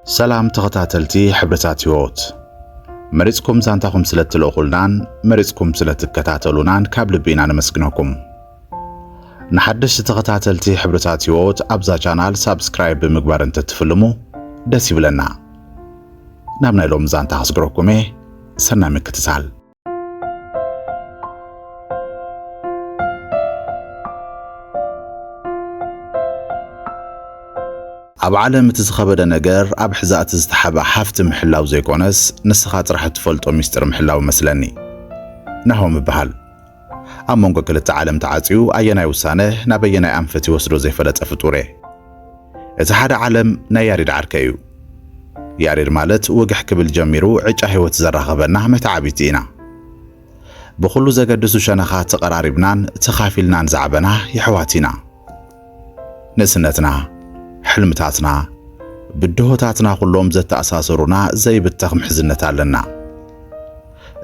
ሰላም ተኸታተልቲ ሕብርታት ህይወት መሪፅኩም ዛንታኹም ስለ እትልእኹልናን መሪፅኩም ስለ እትከታተሉናን ካብ ልቢ ኢና ነመስግነኩም። ንሓደሽቲ ተኸታተልቲ ሕብርታት ህይወት ኣብዛ ቻናል ሳብስክራይብ ብምግባር እንትትፍልሙ ደስ ይብለና። ናብ ናይ ሎሚ ዛንታ ከስግረኩም እየ። ሰናይ ምክትታል። ኣብ ዓለም እቲ ዝኸበደ ነገር ኣብ ሕዛእቲ ዝተሓበ ሃፍቲ ምሕላው ዘይኮነስ ንስኻ ጥራሕ እትፈልጦ ሚስጥር ምሕላው መስለኒ። ናሆም እበሃል። ኣብ መንጎ ክልተ ዓለም ተዓጽዩ ኣየናይ ውሳነ ናብ ኣየናይ ኣንፈት ይወስዶ ዘይፈለጠ ፍጡር'የ። እቲ ሓደ ዓለም ናይ ያሬድ ዓርከይ እዩ። ያሬድ ማለት ወግሕ ክብል ጀሚሩ ዕጫ ህይወት ዘራኽበና መተዓብይቲ ኢና። ብኹሉ ዘገድሱ ሸነኻት ተቐራሪብናን ተኻፊልናን ዝዓበና የሕዋት ኢና። ንእስነትና፣ ሕልምታትና፣ ብድሆታትና ኩሎም ዘተኣሳሰሩና ዘይብተኽ ምሕዝነት ኣለና።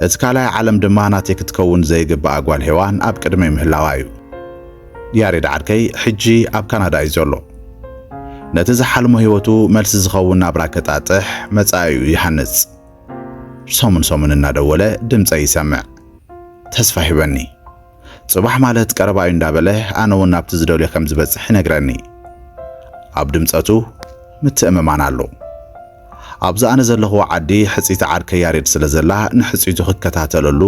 እቲ ካልኣይ ዓለም ድማ ናተይ ክትከውን ዘይግብኣ ጓል ሄዋን ኣብ ቅድመይ ምህላዋ እዩ። ያሬድ ዓርከይ ሕጂ ኣብ ካናዳ እዩ ዘሎ። ነቲ ዝሓልሞ ህይወቱ መልሲ ዝኸውን ናብራ ከጣጥሕ መጻኢኡ ይሃንጽ። ሰሙን ሰሙን እናደወለ ድምጸይ ይሰምዕ። ተስፋ ሂበኒ። ጽባሕ ማለት ቀረባ እዩ እንዳበለ ኣነ እውን ናብቲ ዝደልዮ ከም ዝበጽሕ ይነግረኒ። ኣብ ድምጸቱ ምትእምማን ኣሎ። ኣብዛ ኣነ ዘለኹዎ ዓዲ ሕጽይቲ ዓርከይ ያሬድ ስለ ዘላ ንሕጽይቱ ክከታተለሉ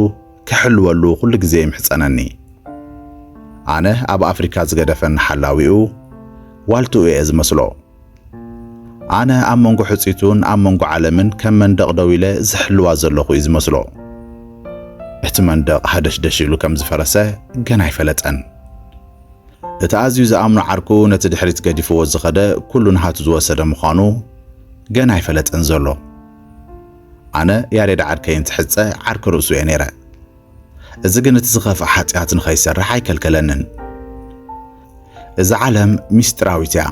ክሕልወሉ ኩሉ ግዜ ይምሕጸነኒ። ኣነ ኣብ ኣፍሪካ ዝገደፈኒ ሓላዊኡ ዋልትኡ እየ ዝመስሎ። ኣነ ኣብ መንጎ ሕጽይቱን ኣብ መንጎ ዓለምን ከም መንደቕ ደው ኢለ ዝሕልዋ ዘለኹ እዩ ዝመስሎ። እቲ መንደቕ ሃደሽደሽ ኢሉ ከም ዝፈረሰ ገና ኣይፈለጠን። እቲ ኣዝዩ ዝኣምኖ ዓርኩ ነቲ ድሕሪት ገዲፍዎ ዝኸደ ኩሉ ናሃቱ ዝወሰደ ምዃኑ ገና ኣይፈለጠን ዘሎ። ኣነ ያሬድ ዓርከይ እንትሕጸ ዓርኪ ርእሱ እየ ነይረ። እዚ ግን እቲ ዝኸፍኣ ሓጢኣት ንኸይሰርሕ ኣይከልከለንን። እዛ ዓለም ምስጢራዊት እያ።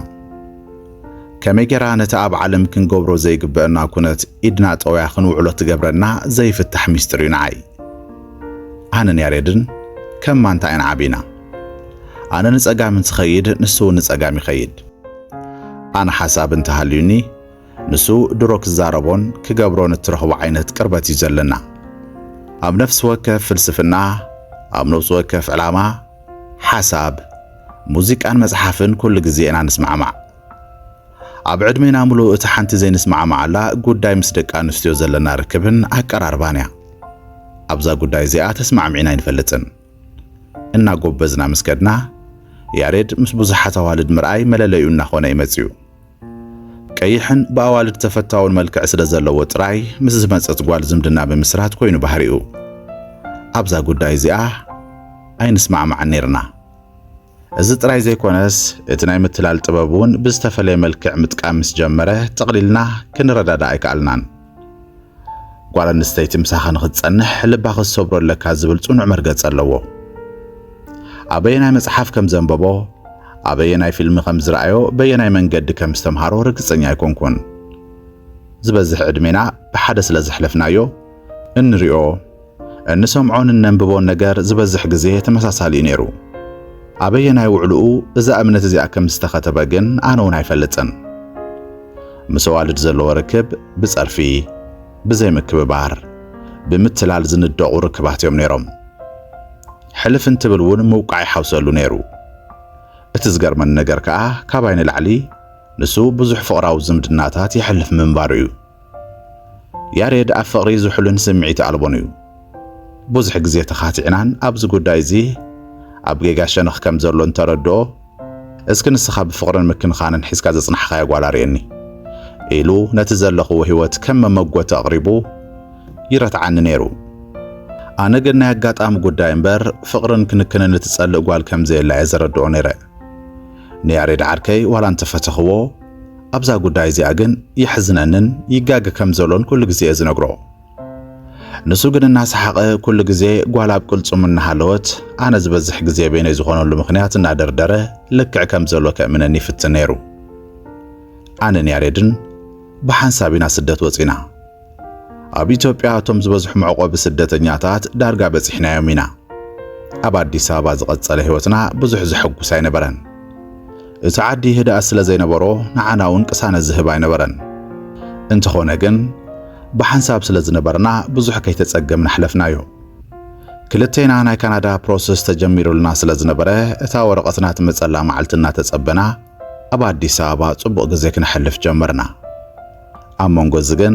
ከመይ ጌራ ነቲ ኣብ ዓለም ክንገብሮ ዘይግበአና ኩነት ኢድና ጠውያ ክንውዕሎ ትገብረና ዘይፍታሕ ምስጢር እዩ ንዓይ። ኣነን ያሬድን ከም ማንታ ኢና ዓቢና። ኣነ ንጸጋም እንትኸይድ ንሱ እውን ንጸጋም ይኸይድ። ኣነ ሓሳብ እንተሃልዩኒ ንሱ ድሮ ክዛረቦን ክገብሮን እትረኽቦ ዓይነት ቅርበት እዩ ዘለና። ኣብ ነፍሲ ወከፍ ፍልስፍና፣ ኣብ ነብሲ ወከፍ ዕላማ፣ ሓሳብ፣ ሙዚቃን መጽሓፍን ኩሉ ግዜ ኢና ንስማዕማዕ። ኣብ ዕድሜና ምሉእ እቲ ሓንቲ ዘይንስማዕማዓላ ጉዳይ ምስ ደቂ ኣንስትዮ ዘለና ርክብን ኣቀራርባን እያ። ኣብዛ ጉዳይ እዚኣ ተስማዕሚዕና ኣይንፈልጥን። እናጎበዝና ምስ ከድና፣ ያሬድ ምስ ብዙሓት ኣዋልድ ምርኣይ መለለይኡ እናኾነ እዩ መጺኡ። ቀይሕን ብኣዋልድ ተፈታውን መልክዕ ስለ ዘለዎ ጥራይ ምስ ዝመጸት ጓል ዝምድና ምምስራት ኮይኑ ባህሪኡ። ኣብዛ ጉዳይ እዚኣ ኣይንስማዕማዕን ኔርና። እዚ ጥራይ ዘይኮነስ እቲ ናይ ምትላል ጥበብ እውን ብዝተፈለየ መልክዕ ምጥቃም ምስ ጀመረ ጠቕሊልና ክንረዳዳእ ኣይከኣልናን። ጓል ኣንስተይቲ ምሳኻ ንኽትጸንሕ ልባ ክትሰብሮ ኣለካ ዝብል ጽኑዕ መርገጺ ኣለዎ። ኣበየናይ መጽሓፍ ከም ዘንበቦ፣ ኣበየናይ ፊልም ከም ዝረኣዮ፣ በየናይ መንገዲ ከም ዝተምሃሮ ርግጸኛ ኣይኮንኩን። ዝበዝሕ ዕድሜና ብሓደ ስለ ዘሕለፍናዮ እንሪኦ እንሰምዖን እነንብቦን ነገር ዝበዝሕ ግዜ ተመሳሳሊ እዩ ነይሩ። ኣበየናይ ውዕልኡ እዛ እምነት እዚኣ ከም ዝተኸተበ ግን ኣነ እውን ኣይፈልጥን። ምስ ኣዋልድ ዘለዎ ርክብ ብጸርፊ፣ ብዘይምክብባር፣ ብምትላል ዝንደቑ ርክባት እዮም ነይሮም። ሕልፍ እንትብል እውን ምውቃዕ ይሓውሰሉ ነይሩ። እቲ ዝገርመኒ ነገር ከኣ ካባይ ንላዕሊ ንሱ ብዙሕ ፍቕራዊ ዝምድናታት የሕልፍ ምንባሩ እዩ። ያሬድ ኣብ ፍቕሪ ዝሑልን ስምዒት ኣልቦን እዩ። ብዙሕ ግዜ ተኻቲዕናን ኣብዚ ጉዳይ እዚ ኣብ ጌጋ ሸነኽ ከም ዘሎ እንተረድኦ፣ እስኪ ንስኻ ብፍቕርን ምክንኻንን ሒዝካ ዘጽናሕኻያ ጓል ኣርእየኒ ኢሉ ነቲ ዘለኽዎ ህይወት ከም መመጎቲ ኣቕሪቡ ይረትዓኒ ነይሩ። ኣነ ግን ናይ ኣጋጣሚ ጉዳይ እምበር ፍቕርን ክንክንን እትጸልእ ጓል ከም ዘየላ እየ ዘረድኦ ነይረ። ንያሬድ ዓርከይ ዋላ እንተፈተኽዎ ኣብዛ ጉዳይ እዚኣ ግን የሕዝነንን ይጋገ ከም ዘሎን ኩሉ ግዜ እየ ዝነግሮ። ንሱ ግን እናሰሓቐ ኩሉ ግዜ ጓል ኣብ ቅልጽሙ እናሃለወት ኣነ ዝበዝሕ ግዜ በይነይ ዝኾነሉ ምኽንያት እናደርደረ ልክዕ ከም ዘሎ ከእምነኒ ይፍትን ነይሩ። ኣነን ያሬድን ብሓንሳብ ኢና ስደት ወጺና። ኣብ ኢትዮጵያ እቶም ዝበዝሑ መዕቆቢ ስደተኛታት ዳርጋ በጺሕናዮም ኢና። ኣብ ኣዲስ ኣበባ ዝቐጸለ ህይወትና ብዙሕ ዘሐጉስ ኣይነበረን። እቲ ዓዲ ህድኣት ስለ ዘይነበሮ ንዓና እውን ቅሳነት ዝህብ ኣይነበረን። እንተኾነ ግን ብሓንሳብ ስለ ዝነበርና ብዙሕ ከይተጸገምና ኣሕለፍናዮ። ክልቴና ናይ ካናዳ ፕሮሰስ ተጀሚሩልና ስለ ዝነበረ እታ ወረቐትና ትመጸላ መዓልቲ እናተጸበና ኣብ ኣዲስ ኣበባ ጽቡቕ ግዜ ክነሕልፍ ጀመርና። ኣብ መንጎ እዚ ግን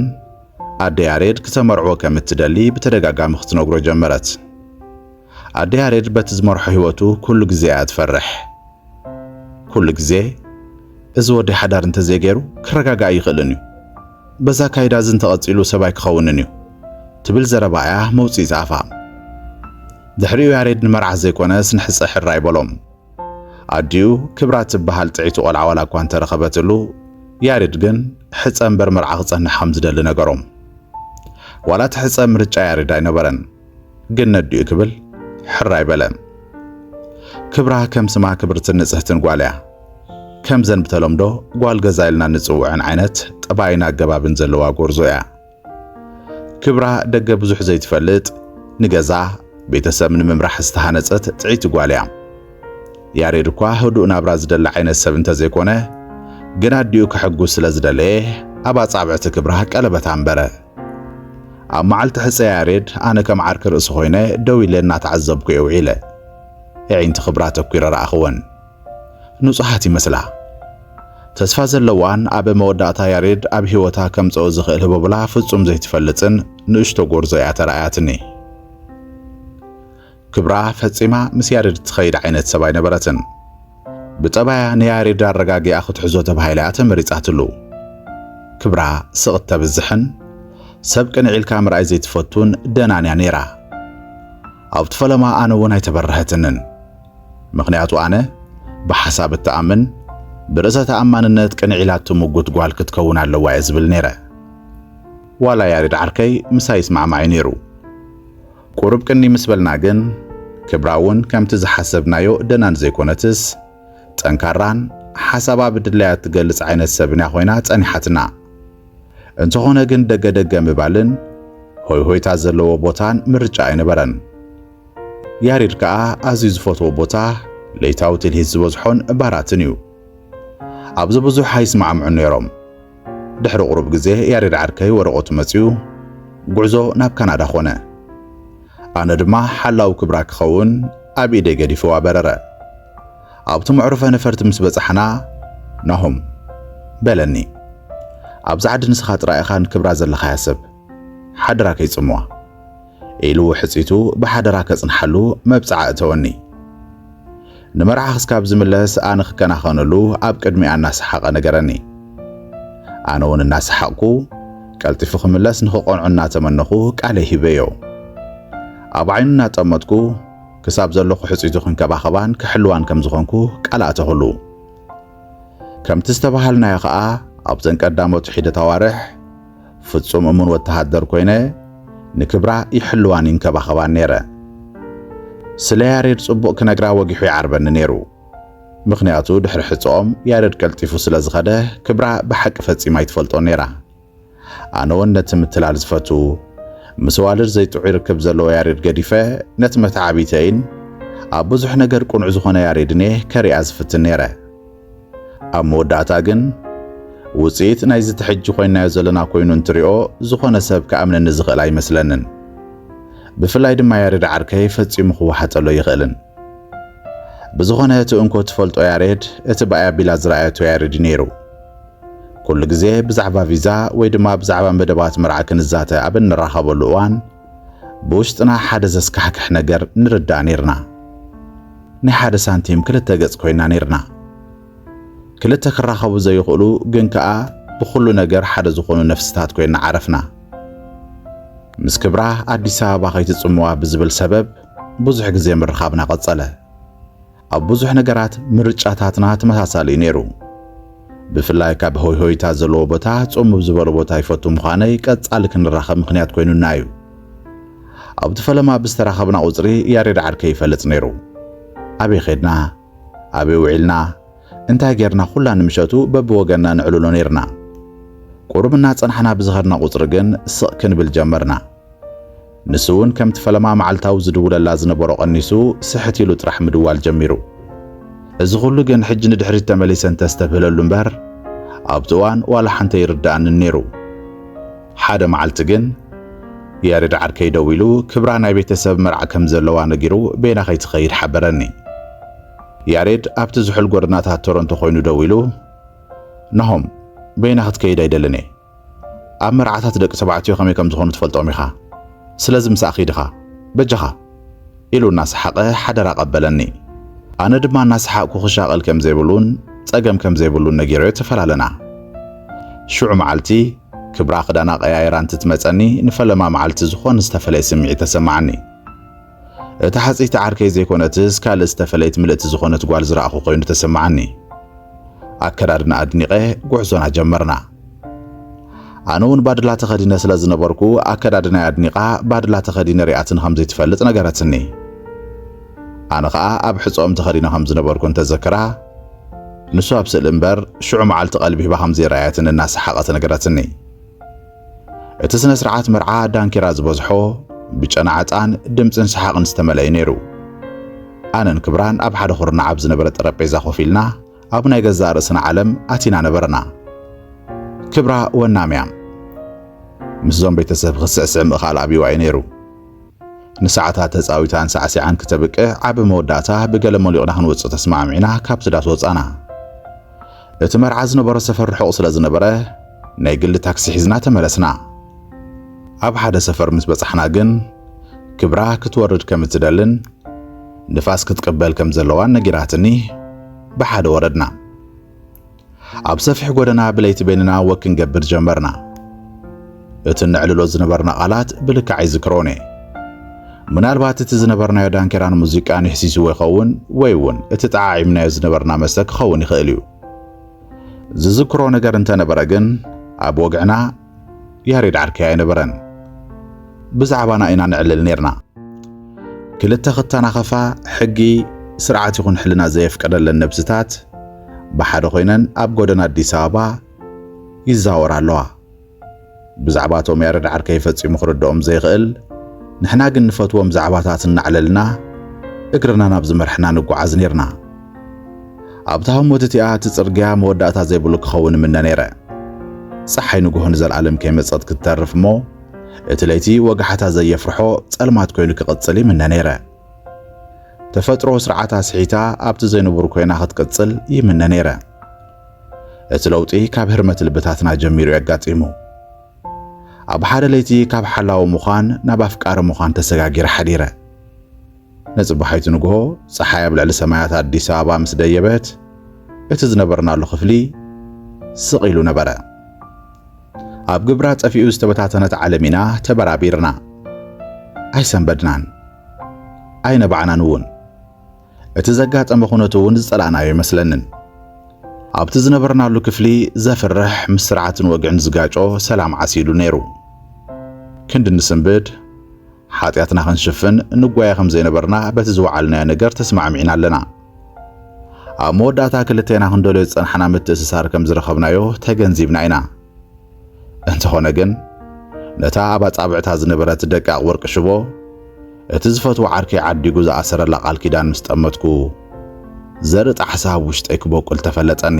ኣደ ያሬድ ክተመርዕዎ ከም እትደሊ ብተደጋጋሚ ክትነግሮ ጀመረት። ኣደ ያሬድ በቲ ዝመርሖ ህይወቱ ኩሉ ግዜ እያ ትፈርሕ። ኩሉ ግዜ እዚ ወደይ ሓዳር እንተዘይገይሩ ክረጋጋእ ኣይኽእልን እዩ፣ በዚ ኣካይዳ እዚ እንተቐጺሉ ሰብ ኣይክኸውንን እዩ ትብል ዘረባ እያ መውጽኢት ኣፋ። ድሕሪኡ ያሬድ ንመርዓ ዘይኮነስ ንሕጸ ሕራይ በሎም። ኣዲኡ ክብራ ትበሃል ጥዕይቲ ቆልዓ ዋላ እኳ እንተ ረኸበትሉ፣ ያሬድ ግን ሕጸ እምበር መርዓ ክጸንሕ ከም ዝደሊ ነገሮም። ዋላ እቲ ሕጸ ምርጫ ያሬድ ኣይነበረን፣ ግን ነዲኡ ክብል ሕር ኣይበለን። ክብራ ከም ስማ ክብርትን ንጽህትን ጓል እያ። ከምዘን ብተለምዶ ጓል ገዛ ኢልና እንጽውዐን ዓይነት ጠባይን ኣገባብን ዘለዋ ጎርዞ እያ። ክብራ ደገ ብዙሕ ዘይትፈልጥ፣ ንገዛ ቤተሰብ ንምምራሕ ዝተሃነጸት ጥዕይቲ ጓል እያ። ያሬድ እኳ ህዱእ ናብራ ዝደሊ ዓይነት ሰብ እንተዘይኮነ፣ ግን ኣዲኡ ከሕጉስ ስለዝደለየ ኣብ ኣጻብዕቲ ክብራ ቀለበት ኣንበረ። ኣብ መዓልቲ ሕጸ ያሬድ ኣነ ከም ዓርኪ ርእሲ ኮይነ ደው ኢለ እናተዓዘብኩ'የ ውዒለ። የዒንቲ ክብራ ተኲረ ረኣኽወን። ንጹሃት ይመስላ ተስፋ ዘለዋን ኣብ መወዳእታ ያሬድ ኣብ ህይወታ ከምጽኦ ዝኽእል ህቦብላ ፍጹም ዘይትፈልጥን ንእሽቶ ጎርዞ እያ ተራእያትኒ። ክብራ ፈጺማ ምስ ያሬድ ትኸይድ ዓይነት ሰብ ኣይነበረትን። ብጠባያ ንያሬድ ኣረጋጊኣ ክትሕዞ ተባሂላ እያ ተመሪጻትሉ። ክብራ ስቕ እተብዝሕን ሰብ ቅንዕ ኢልካ ምርኣይ ዘይትፈቱን ደናን እያ ነይራ። ኣብቲ ፈለማ ኣነ እውን ኣይተበረሀትንን። ምኽንያቱ ኣነ ብሓሳብ እትኣምን ብርእሰ ተኣማንነት ቅንዕ ኢላ እትምጉት ጓል ክትከውን ኣለዋ እየ ዝብል ነይረ። ዋላ ያሬድ ዓርከይ ምሳይ ይስማዕማዕ እዩ ነይሩ። ቁሩብ ቅንይ ምስ በልና ግን ክብራ እውን ከምቲ ዝሓሰብናዮ ደና እንዘይኮነትስ ጠንካራን ሓሳባ ብድላያ እትገልጽ ዓይነት ሰብን እያ ኮይና ጸኒሓትና። እንተኾነ ግን ደገ ደገ ምባልን ሆይሆይታ ዘለዎ ቦታን ምርጫ ኣይነበረን። ያሬድ ከኣ ኣዝዩ ዝፈትዎ ቦታ ለይታዊ ትልሂት ዝበዝሖን ባራትን እዩ። ኣብዚ ብዙሕ ኣይስማዕምዑን ነይሮም። ድሕሪ ቁሩብ ግዜ ያሬድ ዓርከይ ወረቐቱ መጺኡ ጉዕዞ ናብ ካናዳ ኮነ። ኣነ ድማ ሓላዊ ክብራ ክኸውን ኣብ ኢደይ ገዲፈዋ በረረ። ኣብቲ መዕሩፈ ነፈርቲ ምስ በጻሕና ናሆም በለኒ ኣብዛ ዓዲ ንስኻ ጥራይ ኢኻ ንክብራ ዘለኻያ ሰብ። ሓደራ ከይጽምዋ ኢሉ ውሕጺቱ ብሓደራ ከጽንሓሉ መብጽዓ እተወኒ። ንመርዓ ክስካብ ዝምለስ ኣነ ክከናኸነሉ ኣብ ቅድሚኣ እናሰሓቐ ነገረኒ። ኣነውን እናሰሓቕኩ ቀልጢፉ ክምለስ ንክቐንዖ እናተመነኹ ቃለይ ሂበዮ። ኣብ ዓይኑ እናጠመትኩ ክሳብ ዘሎ ክሕጺቱ ክንከባኸባን ክሕልዋን ከም ዝኾንኩ ቃል ኣተኹሉ። ከምቲ ዝተበሃልናዮ ከኣ ኣብዘን ቀዳሞት ሒደት ኣዋርሕ ፍጹም እሙን ወተሃደር ኮይነ ንክብራ ይሕልዋን ይንከባኸባን ነይረ። ስለ ያሬድ ጽቡቕ ክነግራ ወጊሑ ይዓርበኒ ነይሩ። ምኽንያቱ ድሕሪ ሕጸኦም ያሬድ ቀልጢፉ ስለ ዝኸደ ክብራ ብሓቂ ፈጺማ ኣይትፈልጦን ነይራ። ኣነውን ነቲ ምትላል ዝፈቱ ምስ ኣዋልድ ዘይጥዑይ ርክብ ዘለዎ ያሬድ ገዲፈ ነቲ መተዓብይተይን ኣብ ብዙሕ ነገር ቅኑዕ ዝኾነ ያሬድን'የ ከርእያ ዝፍትን ነይረ። ኣብ መወዳእታ ግን ውጽኢት ናይዚ እቲ ሕጂ ኮይንናዮ ዘለና ኮይኑ እንትሪኦ ዝኾነ ሰብ ክኣምነኒ ዝኽእል ኣይመስለንን። ብፍላይ ድማ ያሬድ ዓርከይ ፈጺሙ ክወሓጠሉ ኣይኽእልን። ብዝኾነ እቲ እንኮ ትፈልጦ ያሬድ እቲ ባይ ኣቢላ ዝረኣየቶ ያሬድ እዩ ነይሩ። ኩሉ ግዜ ብዛዕባ ቪዛ ወይ ድማ ብዛዕባ መደባት መርዓ ክንዛተ ኣብ እንራኸበሉ እዋን፣ ብውሽጥና ሓደ ዘስካሕክሕ ነገር ንርዳእ ኔርና። ናይ ሓደ ሳንቲም ክልተ ገጽ ኮይና ኔርና። ክልተ ክራኸቡ ዘይኽእሉ ግን ከኣ ብኹሉ ነገር ሓደ ዝኾኑ ነፍሲታት ኮይና ዓረፍና። ምስ ክብራ ኣዲስ ኣበባ ከይትጽምዋ ብዝብል ሰበብ ብዙሕ ግዜ ምርኻብና ቀጸለ። ኣብ ብዙሕ ነገራት ምርጫታትና ተመሳሳሊ እዩ ነይሩ። ብፍላይ ካብ ሆይሆይታ ዘለዎ ቦታ ጽምብ ዝበለ ቦታ ይፈቱ ምዃነይ ቀጻሊ ክንራኸብ ምኽንያት ኮይኑና እዩ። ኣብቲ ፈለማ ብዝተራኸብና ቁጽሪ ያሬድ ዓርከይ ይፈልጽ ነይሩ። ኣበይ ኼድና ኣበይ ውዒልና እንታይ ጌርና ኩላ ንምሸቱ በብወገንና ነዕልሎ ነይርና። ቁሩብ እናጸናሕና ብዝኸድና ቁጽሪ ግን ስቕ ክንብል ጀመርና። ንሱ'ውን ከምቲ ፈለማ መዓልታዊ ዝድውለላ ዝነበሮ ቀኒሱ ስሕት ኢሉ ጥራሕ ምድዋል ጀሚሩ። እዚ ኩሉ ግን ሕጂ ንድሕሪት ተመሊሰ እንተስተብህለሉ እምበር ኣብቲ እዋን ዋላ ሓንቲ ኣይርድኣንን ነይሩ። ሓደ መዓልቲ ግን ያሬድ ዓርከይ ደዊሉ ክብራ ናይ ቤተሰብ መርዓ ከም ዘለዋ ነጊሩ በይና ከይትኸይድ ሓበረኒ። ያሬድ ኣብቲ ዝሑል ጎደናታት ቶሮንቶ ኮይኑ ደዊሉ ናሆም በይና ክትከይድ ኣይደልን እየ። ኣብ መርዓታት ደቂ ተባዕትዮ ከመይ ከም ዝኾኑ ትፈልጦም ኢኻ፣ ስለዚ ምሳኣ ኪድ ኢኻ በጃኻ ኢሉ እናሰሓቐ ሓደራ ኣቐበለኒ። ኣነ ድማ እናሰሓቕኩ ክሻቐል ከም ዘይብሉን ጸገም ከም ዘይብሉን ነጊረዮ ተፈላለና። ሽዑ መዓልቲ ክብራ ክዳና ቀያይራ እንትትመጸኒ ንፈለማ መዓልቲ ዝኾነ ዝተፈለየ ስምዒት ተሰማዓኒ። እታ ሓጽይቲ ዓርከይ ዘይኮነትስ ካልእ ዝተፈለየት ምልእቲ ዝኾነት ጓል ዝረኣኹ ኮይኑ ተሰማዓኒ። ኣከዳድና ኣድኒቐ ጉዕዞና ጀመርና። ኣነ እውን ባድላ ተኸዲነ ስለ ዝነበርኩ ኣከዳድናይ ኣድኒቓ ባድላ ተኸዲነ ሪኣትኒ ከም ዘይትፈልጥ ነገረትኒ። ኣነ ኸኣ ኣብ ሕጸኦም ተኸዲነ ከም ዝነበርኩ እንተዘክራ ንሱ ኣብ ስእሊ እምበር ሽዑ መዓልቲ ቀልቢ ሂባ ከም ዘይረኣየትን እናሰሓቐት ነገረትኒ። እቲ ስነ ስርዓት መርዓ ዳንኬራ ዝበዝሖ ብጨና ዕጣን፣ ድምጽን ሰሓቕን ዝተመልአ እዩ ነይሩ። ኣነን ክብራን ኣብ ሓደ ኩርናዕ ኣብ ዝነበረ ጠረጴዛ ኮፍ ኢልና ኣብ ናይ ገዛእ ርእስና ዓለም ኣቲና ነበርና። ክብራ ወናም እያ። ምስዞም ቤተሰብ ክትስዕስዕ ምእኻል ኣብዩዋ እዩ ነይሩ። ንሰዓታት ተጻዊታን ሳዕሲዓን ክተብቅዕ ኣብ መወዳእታ ብገለ ሞሊቕና ክንወጽእ ተስማዕሚዕና ካብቲ ዳስ ወጻና። እቲ መርዓ ዝነበሮ ሰፈር ርሑቕ ስለ ዝነበረ ናይ ግሊ ታክሲ ሒዝና ተመለስና። ኣብ ሓደ ሰፈር ምስ በጻሕና ግን ክብራ ክትወርድ ከም እትደልን ንፋስ ክትቅበል ከም ዘለዋን ነጊራትኒ ብሓደ ወረድና። ኣብ ሰፊሕ ጎደና ብለይቲ በይንና ወክ ክንገብር ጀመርና። እቲ እነዕልሎ ዝነበርና ቃላት ብልክዕ ኣይዝክሮን እየ። ምናልባት እቲ ዝነበርናዮ ዳንኬራን ሙዚቃን የሕሲስዎ ይኸውን፣ ወይ እውን እቲ ጠዓዒምናዮ ዝነበርና መስተ ክኸውን ይኽእል እዩ። ዝዝክሮ ነገር እንተነበረ ግን ኣብ ወግዕና ያሬድ ዓርከይ ኣይነበረን። ብዛዕባና ኢና ነዕልል ነይርና። ክልተ ክተናኸፋ ሕጊ፣ ስርዓት ይኹን ሕልና ዘየፍቀደለን ነብስታት ብሓደ ኮይነን ኣብ ጎደና ኣዲስ ኣበባ ይዛወራ ኣለዋ። ብዛዕባ እቶም ያረድ ዓርከይ ፈጺሙ ክርድኦም ዘይኽእል ንሕና ግን ንፈትዎም ዛዕባታት እናዕለልና እግርና ናብ ዝመርሐና ንጓዓዝ ኔርና። ኣብታ ህሞት እቲኣ እቲ ጽርግያ መወዳእታ ዘይብሉ ክኸውን እምነ ነይረ። ጸሓይ ንግሆ ንዘልኣለም ከይመጸት ክትተርፍ እሞ እቲ ለይቲ ወጋሕታ ዘየፍርሖ ጸልማት ኮይኑ ክቕጽል ይምነ ነይረ። ተፈጥሮ ስርዓታ ስሒታ ኣብቲ ዘይንቡር ኮይና ክትቅጽል ይምነ ነይረ። እቲ ለውጢ ካብ ህርመት ልብታትና ጀሚሩ የጋጢሙ። ኣብ ሓደ ለይቲ ካብ ሓላዊ ምዃን ናብ ኣፍቃሪ ምዃን ተሰጋጊረ ሓዲረ። ንጽባሒቱ ንግሆ ጸሓይ ኣብ ልዕሊ ሰማያት ኣዲስ ኣበባ ምስ ደየበት እቲ ዝነበርናሉ ክፍሊ ስቕ ኢሉ ነበረ። ኣብ ግብራ ጠፊኡ ዝተበታተነት ዓለም ኢና ተበራቢርና። ኣይሰንበድናን። ኣይነባዕናን እውን። እቲ ዘጋጠመ ኩነት እውን ዝጸላእናዮ ኣይመስለንን። ኣብቲ ዝነበርናሉ ክፍሊ ዘፍርሕ ምስ ስርዓትን ወግዕን ዝጋጮ ሰላም ዓሲሉ ነይሩ። ክንዲ ንስንብድ ሓጢኣትና ክንሽፍን ንጓየ ከም ዘይነበርና በቲ ዝወዓልናዮ ነገር ተስማዕሚዕና ኣለና። ኣብ መወዳእታ ክልቴና ክንደልዮ ዝጸናሕና ምትእስሳር ከም ዝረኸብናዮ ተገንዚብና ኢና። እንተኾነ ግን ነታ ኣብ ኣጻብዕታ ዝነበረት ደቃቕ ወርቂ ሽቦ እቲ ዝፈትዎ ዓርከይ ዓዲጉ ዝኣሰረላ ቃል ኪዳን ምስ ጠመትኩ ዘርኢ ጣሕሳ ኣብ ውሽጠይ ክቦቁል ተፈለጠኒ።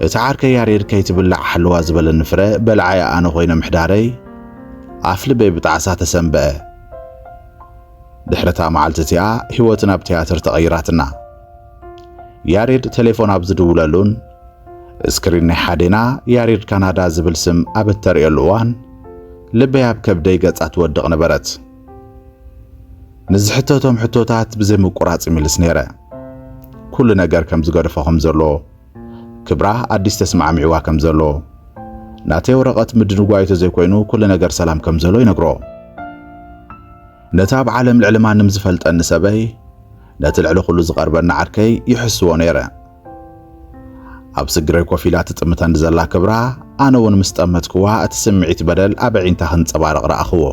እቲ ዓርከይ ያሬድ ከይትብላዕ ሓለዋ ዝበለኒ ፍረ በላዓይ ኣነ ኮይነ ምሕዳረይ ኣፍ ልበይ ብጣዕሳ ተሰንበአ። ድሕሪታ መዓልቲ እቲኣ ህይወት ናብ ትያትር ተቐይራትና። ያሬድ ቴሌፎን ኣብ ዝድውለሉን ስክሪን ናይ ሓዴና ያሬድ ካናዳ ዝብል ስም ኣብ እተርእየሉ እዋን ልበይ ኣብ ከብደይ ገጻ ትወድቕ ነበረት። ምስ ዝሕተቶም ሕቶታት ብዘይ ምቁራጽ ይምልስ ነይረ። ኩሉ ነገር ከም ዝገደፎ ከም ዘሎ፣ ክብራ ኣዲስ ተስማዕሚዕዋ ከም ዘሎ፣ ናተይ ወረቐት ምድንጓዩ ተዘይኮይኑ ኩሉ ነገር ሰላም ከም ዘሎ ይነግሮ። ነቲ ኣብ ዓለም ልዕሊ ማንም ዝፈልጠኒ ሰበይ ነቲ ልዕሊ ኩሉ ዝቐርበኒ ዓርከይ ይሕስዎ ነይረ። ኣብ ስግረይ ኮፍ ኢላ ትጥምተኒ ዘላ ክብራ፣ ኣነ እውን ምስ ጠመትክዋ እቲ ስምዒት በደል ኣብ ኣዒንታ ክንጸባረቕ ረኣኽዎ።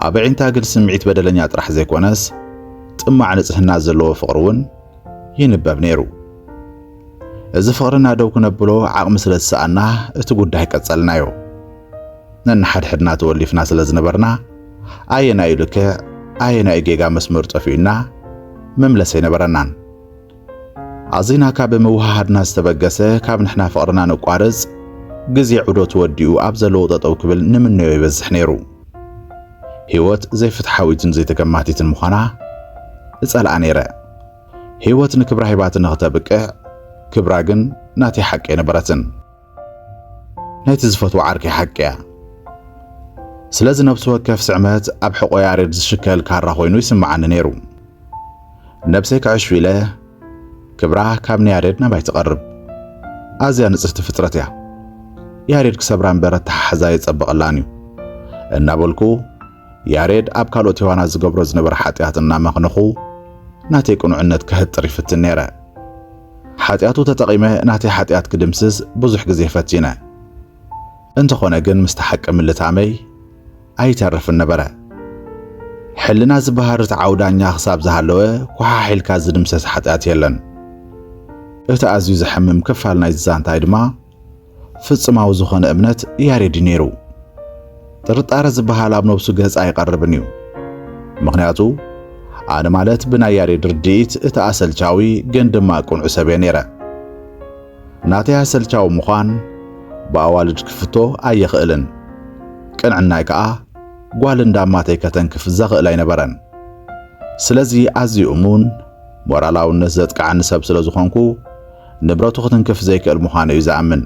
ኣብ ኣዒንታ ግን ስምዒት በደለኛ ጥራሕ ዘይኮነስ ጥማዕ ንጽህና ዘለዎ ፍቕሪ እውን ይንበብ ነይሩ። እዚ ፍቕርና ደው ክነብሎ ዓቕሚ ስለ ዝሰኣና እቲ ጉዳይ ቀጸልናዮ። ነንሓድሕድና ተወሊፍና ስለ ዝነበርና ኣየናዩ ልክዕ ኣየናዩ ጌጋ መስመሩ ጠፊኡና መምለሲ ኣይነበረናን። ኣዚና ካብ ምውሃሃድና ዝተበገሰ ካብ ንሕና ፍቕርና ነቋርጽ ግዜ ዑደቱ ወዲኡ ኣብ ዘለዎ ጠጠው ክብል ንምነዮ ይበዝሕ ነይሩ። ህይወት ዘይፍትሓዊትን ዘይተገማቲትን ምዃና እጸልኣ ነይረ። ህይወት ንክብራ ሂባትኒ ክተብቅዕ ክብራ ግን ናተይ ሓቂ ኣይነበረትን። ናይቲ ዝፈትዎ ዓርከይ ሓቂ እያ። ስለዚ ነብሲ ወከፍ ስዕመት ኣብ ሕቖ ያሬድ ዝሽከል ካራ ኮይኑ ይስምዓኒ ነይሩ። ነብሰይ ክዕሹ ኢለ ክብራ ካብ ንያሬድ ናባይ ትቐርብ ኣዝያ ንጽህቲ ፍጥረት እያ። ያሬድ ክሰብራ እምበር ኣተሓሕዛ የጸብቐላን እዩ እናበልኩ ያሬድ ኣብ ካልኦት ሔዋናት ዝገብሮ ዝነበረ ሓጢኣት እናመኽንኹ ናተይ ቅኑዕነት ከህጥር ይፍትን ነይረ። ሓጢኣቱ ተጠቒመ ናተይ ሓጢኣት ክድምስስ ብዙሕ ግዜ ፈቲነ። እንተኾነ ግን ምስቲ ሓቂ ምልታመይ ኣይተርፍን ነበረ። ሕልና ዝበሃል ርትዓዊ ዳኛ ክሳብ ዝሃለወ ኮሓሒልካ ዝድምሰስ ሓጢኣት የለን። እቲ ኣዝዩ ዘሕምም ክፋል ናይዚ ዛንታይ ድማ፣ ፍጽማዊ ዝኾነ እምነት ያሬድ እዩ ነይሩ። ጥርጣረ ዝበሃል ኣብ ነብሱ ገጽ ኣይቐርብን እዩ። ምኽንያቱ ኣነ ማለት ብናይ ያሬድ ርድኢት እቲ ኣሰልቻዊ ግን ድማ ቅኑዕ ሰብ እየ ነይረ። ናተይ ኣሰልቻዊ ምዃን ብኣዋልድ ክፍቶ ኣይኽእልን። ቅንዕናይ ከኣ ጓል እንዳማተይ ከተንክፍ ዘኽእል ኣይነበረን። ስለዚ ኣዝዩ እሙን፣ ሞራላውነት ዘጥቅዓኒ ሰብ ስለ ዝኾንኩ፣ ንብረቱ ክትንክፍ ዘይክእል ምዃኑ እዩ ዝኣምን።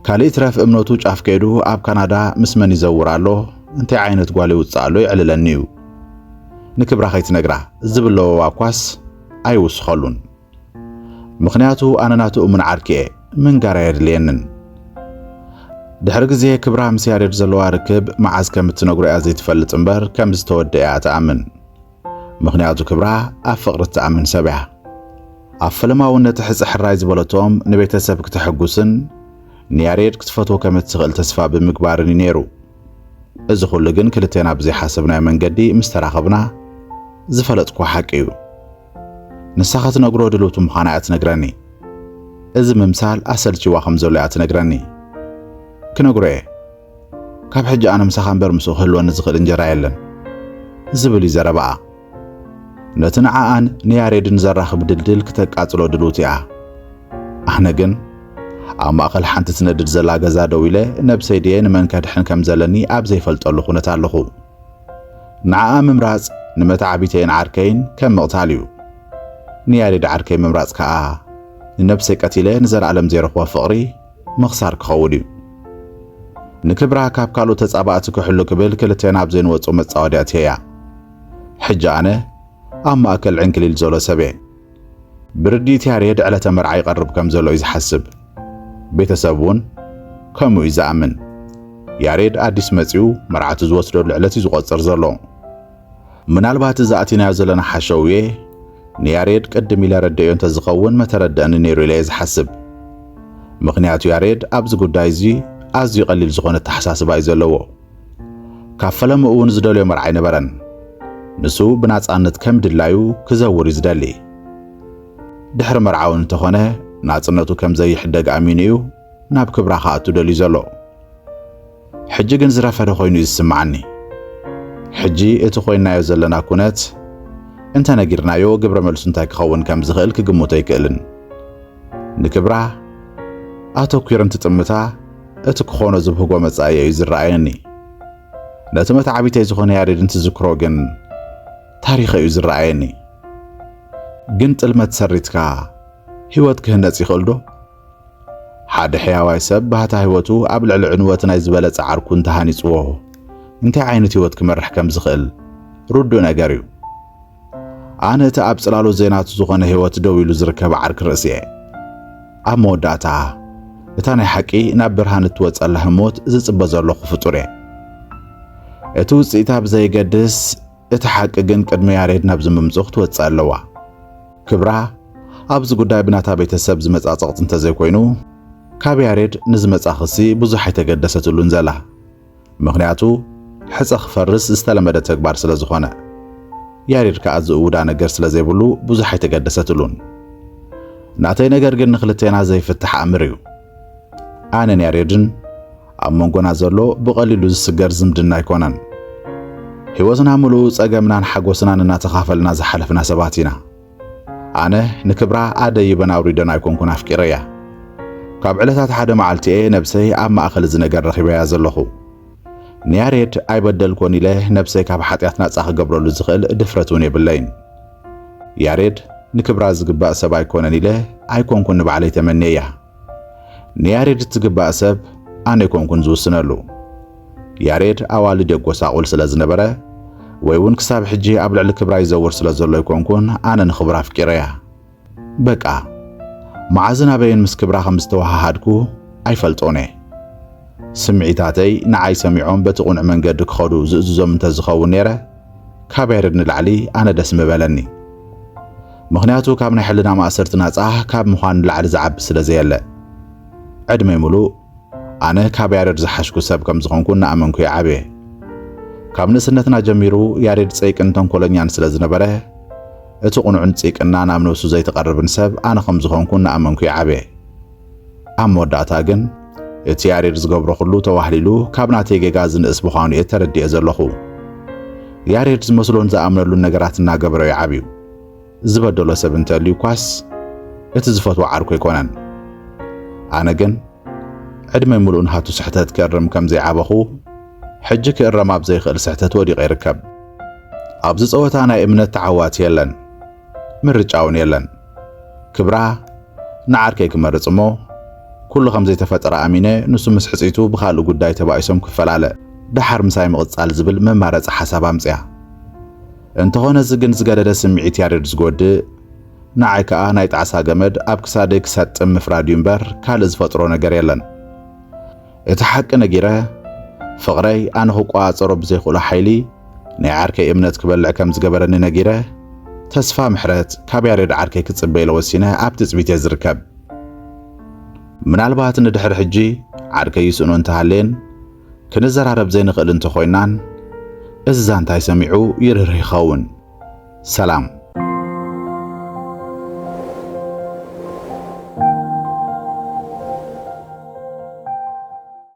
ካልእ ይትረፍ እምነቱ ጫፍ ከይዱ ኣብ ካናዳ ምስ መን ይዘውር ኣሎ፣ እንታይ ዓይነት ጓል የውጽእ ኣሎ የዕልለኒ እዩ። ንክብራ ከይትነግራ ዝብል ለበዋ እኳስ ኣይውስኸሉን። ምኽንያቱ ኣነ ናቱ እሙን ዓርኪ እየ፣ ምንጋር ኣየድልየንን። ድሕሪ ግዜ ክብራ ምስ ያሬድ ዘለዋ ርክብ መዓዝ ከም እትነግሮ እያ ዘይትፈልጥ እምበር ከም ዝተወድኣ እያ ትኣምን። ምኽንያቱ ክብራ ኣብ ፍቕሪ እትኣምን ሰብ እያ። ኣብ ፈለማውነት ሕጽ ሕራይ ዝበለቶም ንቤተሰብ ክተሐጉስን ንያሬድ ክትፈትዎ ከም እትኽእል ተስፋ ብምግባርን እዩ ነይሩ። እዚ ኩሉ ግን ክልቴና ብዘይሓሰብናዮ መንገዲ ምስ ተራኸብና ዝፈለጥክዎ ሓቂ እዩ። ንሳ ከትነግሮ ድልውቲ ምዃና እያ ትነግረኒ። እዚ ምምሳል ኣሰልቺዋ ከም ዘሎ እያ ትነግረኒ። ክነግሮ እየ። ካብ ሕጂ ኣነ ምሳኻ እምበር ምስኡ ክህልወኒ ዝኽእል እንጀራ የለን ዝብል እዩ ዘረባኣ። ነቲ ንዓኣን ንያሬድን ዘራኽብ ድልድል ክተቃጽሎ ድልውቲ እያ። ኣነ ግን ኣብ ማእከል ሓንቲ ትነድድ ዘላ ገዛ ደው ኢለ ነብሰይ ድየ ንመን ከድሕን ከም ዘለኒ ኣብ ዘይፈልጠሉ ኩነት ኣለኹ። ንዓኣ ምምራጽ ንመተዓቢተይን ዓርከይን ከም ምቕታል እዩ። ንያሬድ ዓርከይ ምምራጽ ከኣ ንነብሰይ ቀቲለ ንዘለኣለም ዘይረኽቦ ፍቕሪ ምኽሳር ክኸውን እዩ። ንክብራ ካብ ካልኦት ተጻባእቲ ክሕሉ ክብል ክልቴና ኣብ ዘይንወጾ መጻወድያ ኣትየያ። ሕጂ ኣነ ኣብ ማእከል ዕንክሊል ዘሎ ሰብ እየ። ብርድኢት ያሬድ ዕለተ መርዓ ይቐርብ ከም ዘሎ እዩ ዝሓስብ። ቤተሰብ እውን ከምኡ እዩ ዝኣምን። ያሬድ ኣዲስ መጺኡ መርዓቱ ዝወስደሉ ዕለት እዩ ዝቖጽር ዘሎ። ምናልባት እዚ ኣቲናዮ ዘለና ሓሸውየ ንያሬድ ቅድም ኢለ ረደዮ እንተ ዝኸውን መተረደእኒ ነይሩ ኢለየ ዝሓስብ። ምኽንያቱ ያሬድ ኣብዚ ጉዳይ እዚ ኣዝዩ ቀሊል ዝኾነ ኣተሓሳስባ እዩ ዘለዎ። ካብ ፈለምኡ እውን ዝደልዮ መርዓ ኣይነበረን። ንሱ ብናጻነት ከም ድላዩ ክዘውር እዩ ዝደሊ። ድሕሪ መርዓውን እንተኾነ ናጽነቱ ከም ዘይሕደግ ኣሚኑ እዩ ናብ ክብራ ክኣቱ ደልዩ ዘሎ። ሕጂ ግን ዝረፈደ ኮይኑ እዩ ዝስምዓኒ። ሕጂ እቲ ኮይንናዮ ዘለና ኩነት እንተ ነጊርናዮ ግብረ መልሱ እንታይ ክኸውን ከም ዝኽእል ክግምቶ ኣይክእልን። ንክብራ ኣተኲሩ እንትጥምታ እቲ ክኾኖ ዝብህጎ መጻኢ እዩ ዝረኣየኒ። ነቲ መተዓቢተይ ዝኾነ ያሬድ እንትዝክሮ ግን ታሪኸ እዩ ዝረኣየኒ። ግን ጥልመት ሰሪትካ ህይወት ክህነጽ ይኽእልዶ? ሓደ ሕያዋይ ሰብ ባህታ ህይወቱ ኣብ ልዕሊ ዕንወት ናይ ዝበለጸ ዓርኩ እንተ ሃኒጽዎ እንታይ ዓይነት ህይወት ክመርሕ ከም ዝኽእል ርዱእ ነገር እዩ። ኣነ እቲ ኣብ ጽላሎት ዘይናቱ ዝኾነ ህይወት ደው ኢሉ ዝርከብ ዓርኪ ርእሲ እየ። ኣብ መወዳእታ እታ ናይ ሓቂ ናብ ብርሃን እትወጸላ ህሞት ዝጽበ ዘለኹ ፍጡር እየ። እቲ ውጽኢታ ብዘየገድስ እቲ ሓቂ ግን ቅድሚ ያሬድ ናብዚ ምምጽኡ ክትወጽእ ኣለዋ። ክብራ ኣብዚ ጉዳይ ብናታ ቤተሰብ ዝመጽኣ ጸቕጢ እንተዘይኮይኑ ካብ ያሬድ ንዝመጽኣ ክሲ ብዙሕ ኣይተገደሰትሉን ዘላ። ምኽንያቱ ሕጸ ክፈርስ ዝተለመደ ተግባር ስለዝኾነ። ያሬድ ከኣ ዝእውዳ ነገር ስለዘይብሉ ብዙሕ ኣይተገደሰትሉን። ናተይ ነገር ግን ንክልቴና ዘይፍታሕ ኣምር እዩ። ኣነን ያሬድን ኣብ መንጎና ዘሎ ብቐሊሉ ዝስገር ዝምድና ኣይኮነን። ህይወትና ምሉእ ጸገምናን ሓጎስናን እናተኻፈልና ዝሓለፍና ሰባት ኢና። ኣነ ንክብራ ኣደይበን ኣውሪደን ኣይኮንኩን ኣፍቂረያ። ካብ ዕለታት ሓደ መዓልቲ'የ ነብሰይ ኣብ ማእከል እዚ ነገር ረኺበያ ዘለኹ። ንያሬድ ኣይበደልኮን ኢለ ነብሰይ ካብ ሓጢኣት ናጻ ክገብረሉ ዝኽእል ድፍረት እውን የብለይን። ያሬድ ንክብራ ዝግባእ ሰብ ኣይኮነን ኢለ ኣይኮንኩን ንባዕለይ ተመንየያ። ንያሬድ እትግባእ ሰብ ኣነ ኣይኮንኩን ዝውስነሉ። ያሬድ ኣዋልድ የጎሳቑል ስለ ዝነበረ ወይ እውን ክሳብ ሕጂ ኣብ ልዕሊ ክብራ ይዘውር ስለ ዘሎ ኣይኮንኩን ኣነ ንክብራ ኣፍቂረያ። በቃ መዓዝን ኣበይን ምስ ክብራ ከም ዝተወሃሃድኩ ኣይፈልጦን እየ። ስምዒታተይ ንዓይ ሰሚዖም በቲ ቅኑዕ መንገዲ ክኸዱ ዝእዝዞም እንተዝኸውን ነይረ፣ ካብ ያሬድ ንላዕሊ ኣነ ደስ ምበለኒ። ምኽንያቱ ካብ ናይ ሕልና ማእሰርቲ ናጻ ካብ ምዃን ንላዕሊ ዝዓቢ ስለ ዘየለ። ዕድመይ ምሉእ ኣነ ካብ ያሬድ ዝሓሽኩ ሰብ ከም ዝኾንኩ እናኣመንኩ እየ ዓብየ። ካብ ንእስነትና ጀሚሩ ያሬድ ጸይቅን ተንኮለኛን ስለ ዝነበረ እቲ ቁኑዕን ጺቅና ናብ ነብሱ ዘይትቐርብን ሰብ ኣነ ከም ዝኾንኩ እናኣመንኩ እየ ዓብየ። ኣብ መወዳእታ ግን እቲ ያሬድ ዝገብሮ ኩሉ ተዋህሊሉ ካብ ናተይ ጌጋ ዝንእስ ምዃኑ እየ ተረዲኤ ዘለኹ። ያሬድ ዝመስሎን ዝኣምነሉን ነገራት እናገበረ እዩ ዓብዩ። ዝበደሎ ሰብ እንተልዩ እኳስ እቲ ዝፈትዎ ዓርኩ ኣይኮነን። ኣነ ግን ዕድመይ ምሉእ ንሃቱ ስሕተት ክእርም ከም ዘይዓበኹ ሕጂ ክእረም ኣብ ዘይክእል ስሕተት ወዲቐ ይርከብ። ኣብዚ ጸወታ ናይ እምነት ተዓዋቲ የለን፣ ምርጫ እውን የለን። ክብራ ንዓርከይ ክመርጽ እሞ ኩሉ ከም ዘይተፈጠረ ኣሚነ ንሱ ምስ ሕጽይቱ ብኻልእ ጉዳይ ተባኢሶም ክፈላለ ደሓር ምሳይ ምቕጻል ዝብል መማረጺ ሓሳብ ኣምጽያ። እንተኾነ እዚ ግን ዝገደደ ስምዒት ያሬድ ዝጎድእ ንዓይ ከኣ ናይ ጣዕሳ ገመድ ኣብ ክሳደይ ክሰጥም ምፍራድ እዩ እምበር ካልእ ዝፈጥሮ ነገር የለን። እቲ ሓቂ ነጊረ ፍቕረይ ኣነ ክቆጻጸሮ ብዘይክእሎ ሓይሊ ናይ ዓርከይ እምነት ክበልዕ ከም ዝገበረኒ ነጊረ ተስፋ ምሕረት ካብ ያሬድ ዓርከይ ክጽበ ኢለ ወሲነ ኣብ ትጽቢት እየ ዝርከብ። ምናልባት ንድሕሪ ሕጂ ዓርከይ ይስእኖ እንተሃልየን ክንዘራረብ ዘይንኽእል እንተኾይናን እዚ ዛንታይ ሰሚዑ ይርህርህ ይኸውን። ሰላም።